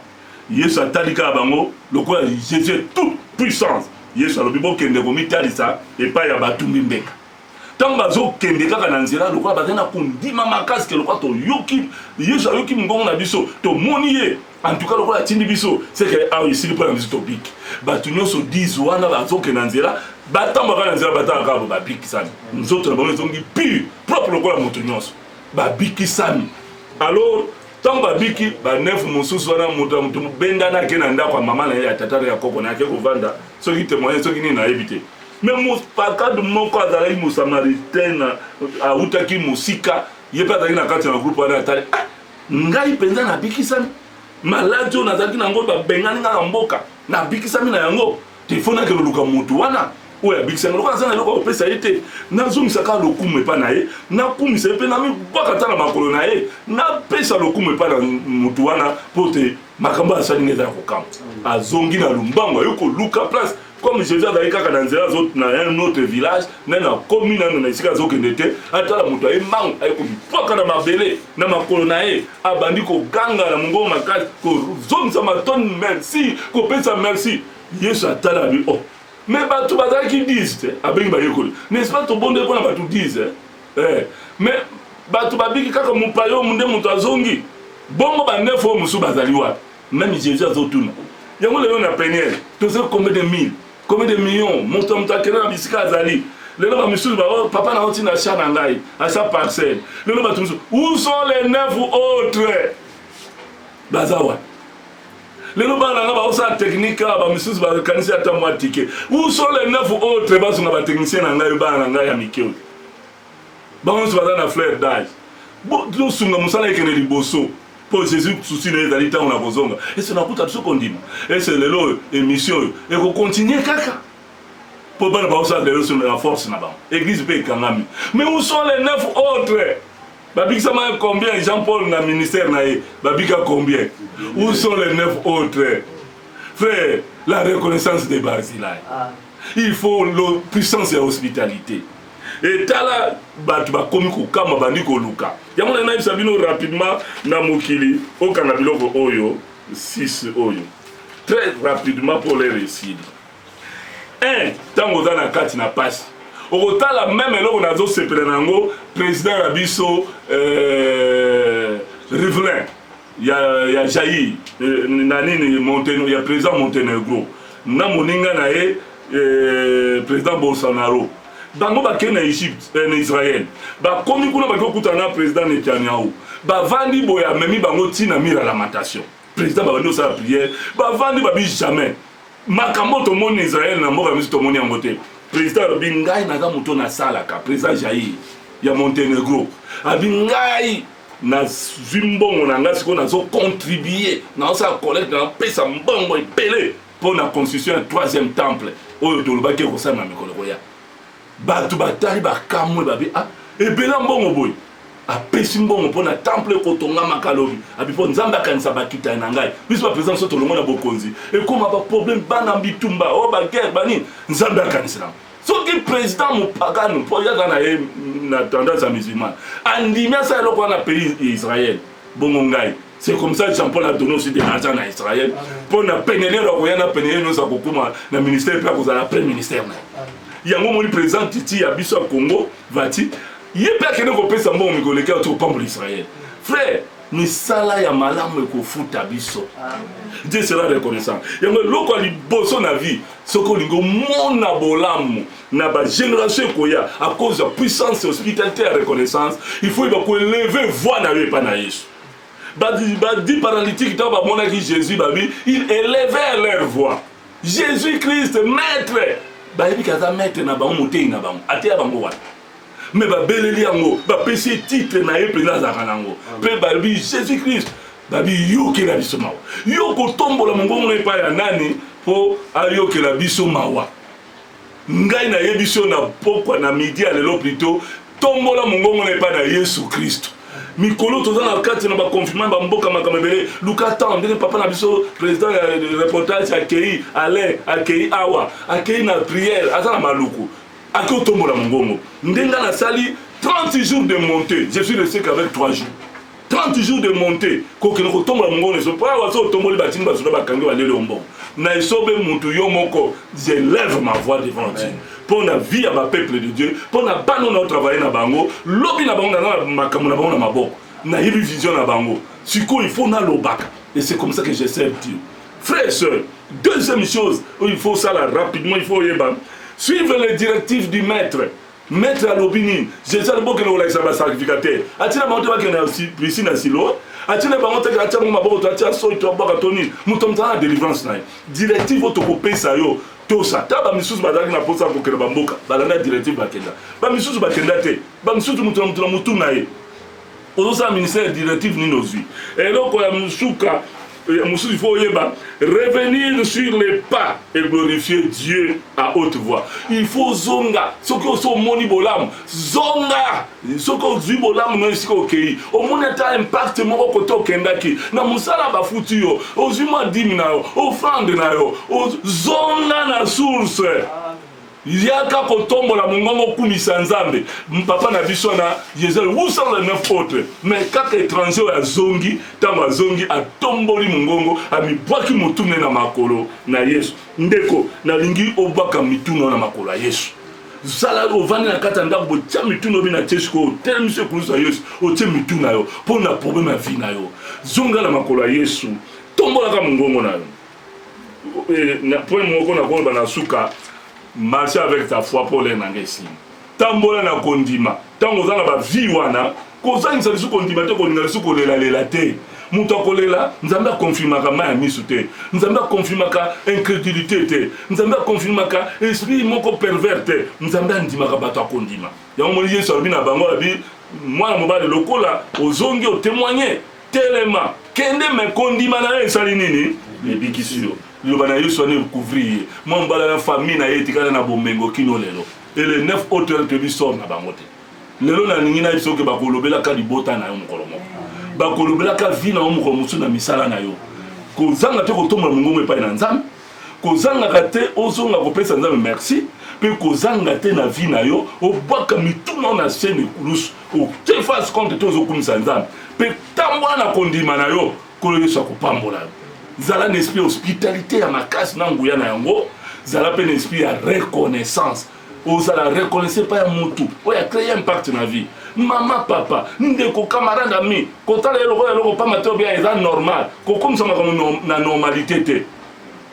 Yesu atali kaka bango lokola Jesus est toute puissance. Yesu alobi bokende komitalisa epai ya batumbi mbeka. Ntango bazokende kaka na nzela lokola bazali na kondima makasi ke lokola toyoki Yesu ayoki mongongo na biso, tomoni ye antuka lokola atindi biso seke awa esili mpo na biso tobiki. Bato nyonso 10 wana bazokende na nzela batambwa kaka na nzela batala kaka babikisami, nzoto na bango ezongi pure propre lokola moto nyonso, babikisami alors Ntango babiki, ba neuf mosusu wana, moto ya moto mobendana ake na ndako ya mama na ye, ya tata na ya koko na ye, ake kovanda, soki temoignage, soki nini, nayebi te. Me mopakad moko azalaki mosamaritain, awutaki mosika, ye mpe azalaki na kati na groupe wana, atali, ah, ngai mpenza nabikisami maladi oyo nazalaki na yango, babengani ngai na mboka, nabikisami na yango. Il faut nake loluka mutu wana oyo abikisa nga lokola aza na eloko akopesa ye te nazongisa kaka lokumu epai na ye nakumisa ye mpe namibwaka ata na makolo na ye napesa lokumu epai na motu wana mpo te makambo oyo asali nga eza ya kokama azongi na lombango aye koluka place comme jesus azali kaka na nzela na un autre village nani akomi nano na esika azokende te atala moto aye mbangu aye komipwaka na mabele na makolo na ye abandi koganga na mongongo makasi kozongisa matoni merci kopesa merci yesu atala abi o oh. me bato bazalaki 10 te abengi bayekoli n'est-ce pas tobondeli mpo na bato 10 eh. me bato babiki kaka mopayomu nde moto azongi bongo banefu oyo mosusu bazali wapi Meme Jesus azotuna yango lelo na peniel tozo combien de mille combien de millions moto ya moto akende na bisika azali lelo bamisusu bao papa nango ntina cha na ngai acha parcelle lelo bato mosusu où sont les neuf autres baza wana lelo bana nanga baosala technique awa bamisusu bakanisi ata mwa tike où sont les neuf autres bazonga batechnicien na ngai bana na ngai ya mike oyo bango nyonso baza na fleur d'age tosunga mosala ekende liboso mpo jésus susi na ye ezali ntango na kozonga ese nakuta biso kondima ese lelo oyo émission oyo ekokontinue kaka mpo bana baosala lelo solo na force na bango église mpe ekangami mais où sont les neuf autres babikisama combien jean paul na ministère na ye babika combien où sont les neuf autres frère la reconnaissance de barzilai ah. il faut la puissance ya hospitalité etala bato bakomi kokama bandi koluka yango na nayebisa bino rapidement na mokili okanga biloko oyo 6 oyo très rapidement mpo lere esili 1 ntango oza na kati na pasi okotala meme eloko nazosepela na yango président na biso euh, rivelin ya, ya Jair eh, na nini Montenegro, ya president Montenegro na moninga na ye eh, president Bolsonaro bango bakei na Egypte eh, na Israël bakomi kuna baki kokutana na president Netanyahu bavandi boye amemi bango ntina mira lamentation president babandi kosala prière bavandi babi jamais makambo tomoni Israël na mboka misu tomoni yango te president alobi ngai naza moto nasalaka president Jair ya Montenegro abi ngai nazwi mbongo na ngai sikoyo nazo contribue naosala collecte napesa mbongo ebele mpo na constitution ya troisième temple oyo tolobaki ekosala na mikolo koya bato batali bakamwe babi a ah, ebela mbongo boye apesi mbongo mpo na temple ekotongamaka lobi abi mpo nzambe akanisa bakitani na ngai biso baprezida moso tolongo na bokonzi ekoma baproblème bana bitumba o oh, baguerre banini nzambe akanisela soki president mopagano mpo yaza na ye na tendance ya musulman andimi asala eloko wana pays ya israel bongo ngai c'est comme ça jean paul adoni osi de l'argent na israel mpo na penelelo akoya na penelelo nyonso akokuma na ministère mpe akozala après ministère na ye yango omoni président titi ya biso ya congo vati ye mpe akende kopesa mbongo mikoleki ato kopambola israel frère misala ya malamu ekofuta biso dieu sera reconnaissant yango eloko ya liboso na vie soki olingi omona bolamu na bagénération ekoya à cause ya puissance hospitalité ya reconnaissance il faut yeba koeleve voi na yo epa na yesu badi paralytique ntango bamonaki jésus babi il élevèrent leur voix jésus christ maître bayebi kaza maître na bango moteyi na bango ateya bango wana mais babeleli yango bapesi ye titre na ye mpenza azalaka na yango mpe balobi jésus christ babi yokela biso mawa yo kotombola mongongo epai ya nani mpo ayokela biso mawa ngai nayebi so na pokwa na midi ya lelo plito tombola mongongo na epai na yesu kristo mikolo toza na kati na baconfinement bamboka makambo ebele luka temps ndenge papa na biso président ya reportage akei alain akei awa akei na prière aza na maluku Ake otombola mongongo nde nga nasali 30 jours de monte je suis le sec avec 3 jours 30 jours de monte kokende kotombola mongongo na esobe mpo awa so otomboli batini basoda bakangi baleli yo mbongo na esobe mutu yo moko je lève ma voix devant Dieu mpo na vie ya bapeuple de Dieu mpo na bana oyo naotravaille na bango lobi na bango naza na makambo na bango na maboko nayebi vision na bango sikoyo il faut nalobaka et c'est comme ça que je sers Dieu Frère et soeur, deuxième chose, il faut ça là rapidement, il faut yeba. Suivre les directives du maître. Maître alobi nini? Jésus alobokela kolakisa ba sacrificateur. Atina bango te bakende na piscine ya Siloe. Atina bango te atia bango maboko to atia soyi to abwaka to nini. Moto mzala na délivrance na ye. Directive oyo tokopesa yo tosa ta bamisusu bazalaki na mposa ya kokenda bamboka balanda directive bakenda bamisusu bakenda te bamisusu moto na moto na motu na ye ozosala ministère directive nini ozwi eloko ya mosuka mosusu il faut oyeba revenir sur les pas et glorifier dieu à haute voix il faut zonga soki osi omoni bolamu zonga soki ozwi bolamu no esika okei omoni ata impact moko kote okendaki na mosala bafuti yo ozwi mwa dime na yo ofrande na yo zonga na source Yaka kotombola mongongo okumisa Nzambe. Papa na biso wana Yezel où sont les neuf autres? Mais kaka étranger oyo azongi, tango azongi atomboli mongongo, amibwaki motu ne na makolo na Yesu. Ndeko, nalingi obwaka mitu no na makolo ya Yesu. Zala ovandi na kati ya ndako boye, tia mitu no bina tie sikoyo, otelemisi ekulusu ya Yesu, otie mitu na yo mpo na problème ya vie na yo. Zonga na makolo ya Yesu, tombolaka mongongo na yo. na point moko na koloba na suka marche avec ta foi mpo olere na ngai esili tambola na kondima ntango oza na bavie wana kozangisa lisusu kondima te kolinga lisusu kolelalela te moto akolela nzambe akonfirmaka mai ya miso te nzambe akonfirmaka incrédulité te nzambe akonfirmaka esprit moko pervers te nzambe andimaka bato akondima yango moni yesu alobi na bango alobi mwana mobali lokola ozongi otemoigne Telema, kende me kondima na yo esali nini? Ebikisi yo. Liloba na Yesu wana ekouvrir ye. Mwa mbala na famille na ye etikala na bomengo kino lelo. Et le 9 autres toyebi sort na bango te. Lelo na ningi na yebisa oke bakolobelaka libota na yo mokolo moko. Bakolobelaka vie na yo mokolo mosusu na misala na yo. Kozanga te kotombola mongongo epai na Nzambe. kozangaka te ozonga kopesa nzambe merci mpe kozanga te na vie na yo obwaka mituna na se na ekulusu ote face compte te ozokumisa nzambe mpe tambola na kondima na yo nkolo yesu akopambola yo zala na esprit ya hospitalité ya makasi na nguya na yango zala mpe na esprit ya reconnaissance ozala reconnaissant epai ya mutu oyo acreye impact na vie mama papa ndeko camarade ami kotala ye lokola eloko pamba te obia eza normal kokomisa makambo na normalité te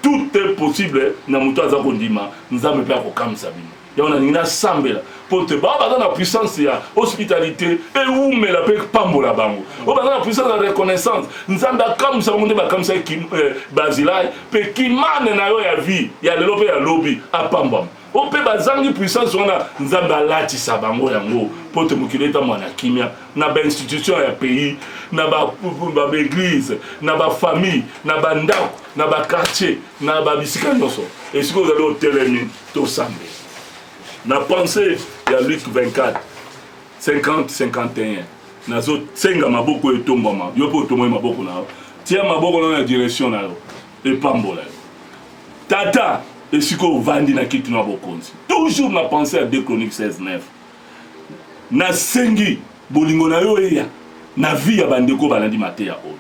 tout est possible na moto aza kondima nzambe mpe akokamisa bino yango nalingi nasambela mpo te bao baza na puissance ya hospitalité ewumela mpe epambola bango oyo baza na puissance ya reconnaissance nzambe akamwisa bango nde bakamwisaki eh, bazilai mpe kimane na yo ya vie ya lelo mpe ya lobi apambwama o mpe bazangi puissance wana nzambe alatisa bango yango mpo te mokili etambola na kimia na bainstitution ya pays na baeglise na bafamille na bandako na bakartier na babisika nyonso esika ozali otelemi tosambeli na pensee ya luc 24 50, 51 nazo senga maboko oyo etombwama yo mpe otombwami maboko na yo tia maboko na yo na direction na yo epambola yo tata esika ovandi na kiti na bokonzi toujours na pense ya 2 chronique 16 9 nasengi bolingo na yo eya na vie ya bandeko balandi mateya oyo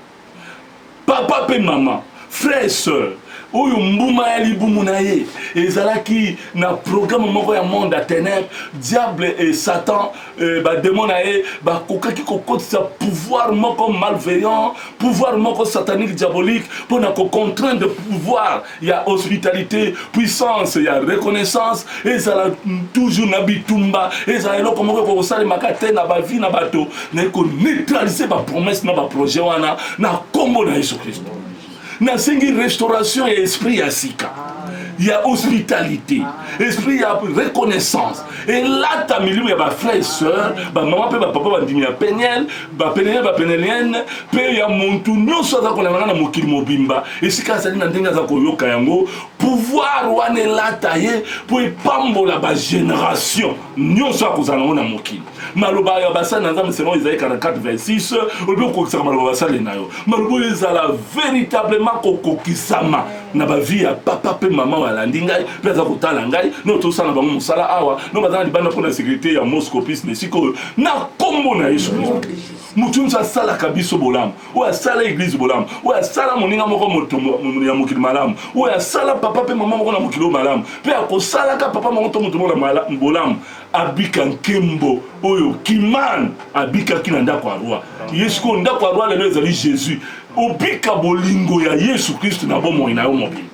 papa mpe mama frère soeur oyo mbuma ya libumu na ye ezalaki na programe moko ya monde ya ténèbre diable et satan eh, bademo na ye bakokaki kokotisa pouvoir moko malveillant pouvoir moko satanique diabolique mpo na kocontraindre pouvoir ya hospitalite puissance ya reconnaissance ezala toujours na bitumba ezala eloko moko ekokosalemaka te na bavi na bato na ekoneutralise bapromese na baprojet wana na nkombo na yesu kristo nasengi restauration ya esprit ya sika ya hospitalité esprit ya reconnaissance elata milimo ya bafrère sœur bamama mpe bapapa bandimi ya peniel bapenene ya bapenelene mpe ya muntu nyonso aza kolangana na mokili mobimba esika azali na ndenge aza koyoka yango pouvoir wana elata ye mpo epambola bageneration nyonso akozala yango na mokili maloba ya basali na nzambe selon ezali 4426 olobi kokokisaka maloba basali na yo maloba oyo ezala veritablement kokokisama na ba vie ya papa pe mama oyo alandi ngai pe aza kotala ngai no tosala bango mosala awa no baza na libanda mpo na sécurité ya mosco pis na esika oyo na kombo na yesu kristo moto nyonso asalaka biso bolamu oyo asala eglize bolamu oyo asala moninga moko moto ya mokili malamu oyo asala papa pe mama moko na mokili oyo malamu pe akosalaka papa moko to moto moko na bolamu abika nkembo oyo kimane abikaki na ndako ya roi ye sikoyo ndako ya roi lelo ezali jésus Obika bolingo ya Yesu Klisto na bomoi na yo mobimba.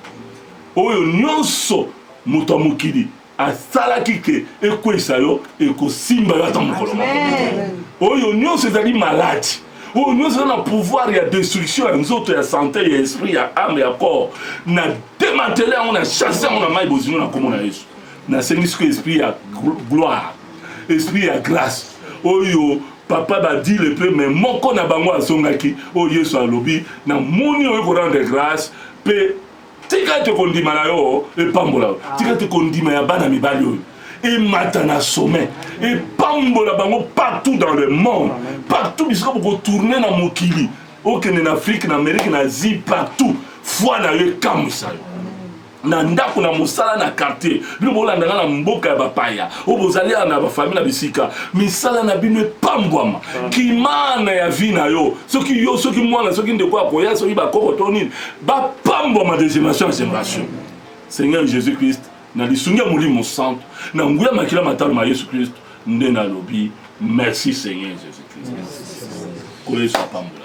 Oyo nyonso moto ya mokili asalaki te ekweyisa yo ekosimba yo ata mokolo moko. Oyo nyonso ezali maladi oyo nyonso eza na pouvoir ya destruction ya nzoto ya sante ya esprit ya ame ya corps na demantele yango na chasse yango na mai bozino na nkombo na yesu nasengi siko esprit ya gloire esprit ya grâce oyo papa badile mpe me moko na bango azongaki oyo yesu alobi na moni oyo korendre grâce mpe tika te kondima na yo epambola yo tika te kondima ya bana mibali oyo emata na sommet epambola bango partout dans le monde partout bisika bokotourne na mokili okende na afrique na amérique na asie partout foi na yo ekamwisa yo na ndako na mosala na quartier bino bolanda nga na mboka ya bapaya oyo bozali ya na bafamile na bisika misala na bino epambwama mm. kimana ya vi na yo soki yo soki mwana soki ndeko ya koya soki bakoko to nini bapambwama de génération ya génération seigneur jésus christ na lisungi ya molimo santo na nguya makila matalo ma yesu kristo nde nalobi merci seigneur jésus christ koyesu apambola